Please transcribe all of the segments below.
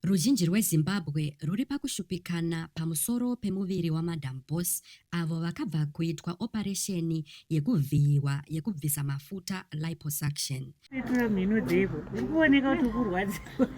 Ruzhinji rweZimbabwe rwuri pakushupikana pamusoro pemuviri waMadam Boss avo vakabva kuitwa oparesheni yekuvhiyiwa yekubvisa mafuta, liposuction. Tora mhino dzeko, uri kuoneka kuti ukurwadziwa.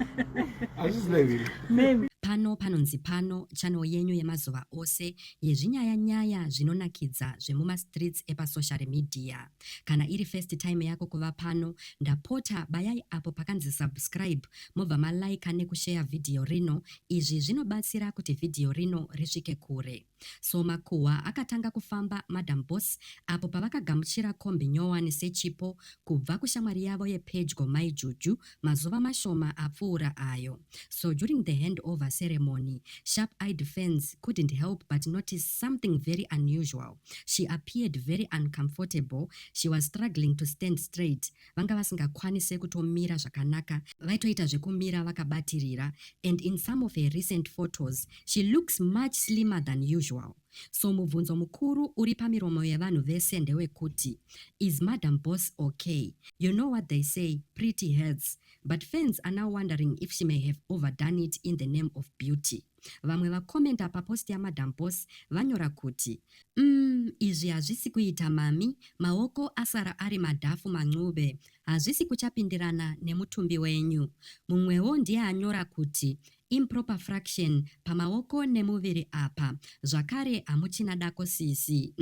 Hazvisi neviri. Mem. Pano panonzi pano, channel yenyu yemazuva ose yezvinyaya nyaya zvinonakidza zvemumastreets epasoshari media. Kana iri first time yako kuva pano, ndapota bayai apo pakanzi subscribe mobva ma liker neku share video rino, izvi zvinobatsira kuti video rino risvike kure. So makuhwa akatanga kufamba Madam Boss apo pavakagamuchira kombi nyowani sechipo kubva kushamwari yavo yepedyo Mai Juju mazuva mashoma apfuura ayo. So during the hand over ceremony, sharp eyed fans couldn't help but notice something very unusual. She appeared very uncomfortable, she was struggling to stand straight, vanga vasingakwanise kutomira zvakanaka, vaitoita zvekumira vakabatirira and in some of her recent photos, she looks much slimmer than usual. So mubvunzo mukuru uri pamiromo yevanhu vese ndewekuti is madam boss ok you know what they say pretty hurts but fans are now wondering if she may have overdone it in the name of beauty vamwe vakomenta papost yamadam boss vanyora kuti um izvi hazvisi kuita mami maoko asara ari madhafu mancube hazvisi kuchapindirana nemutumbi wenyu mumwewo ndiye anyora kuti Improper fraction pamaoko nemuviri apa zvakare hamuchina dako sisi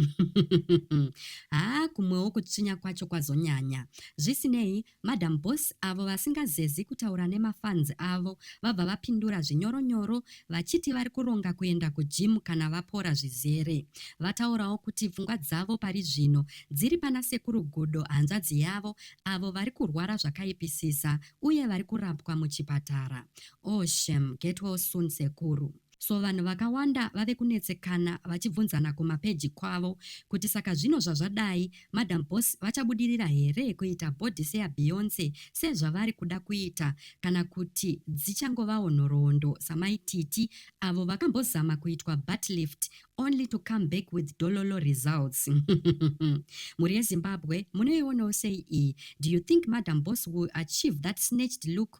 haa kumwewo kutsvinya kwacho kwazonyanya zvisinei madam boss avo vasingazezi kutaura nemafans avo vabva vapindura zvinyoro nyoro vachiti vari kuronga kuenda kugym kana vapora zvizere vataurawo kuti pfungwa dzavo pari zvino dziri pana sekuru gudo hanzvadzi yavo avo vari kurwara zvakaipisisa uye vari kurapwa muchipatara Oh shem, get well soon sekuru. So vanhu vakawanda vave kunetsekana vachibvunzana kumapeji kwavo kuti saka zvino zvazvadai madam boss vachabudirira here kuita body seya Beyonce sezvavari kuda kuita kana kuti dzichangovawo nhoroondo samai Titi avo vakambozama kuitwa butt lift only to come back with dololo results mhuri yezimbabwe munoionawo sei iyi do you think madam boss will achieve that snatched look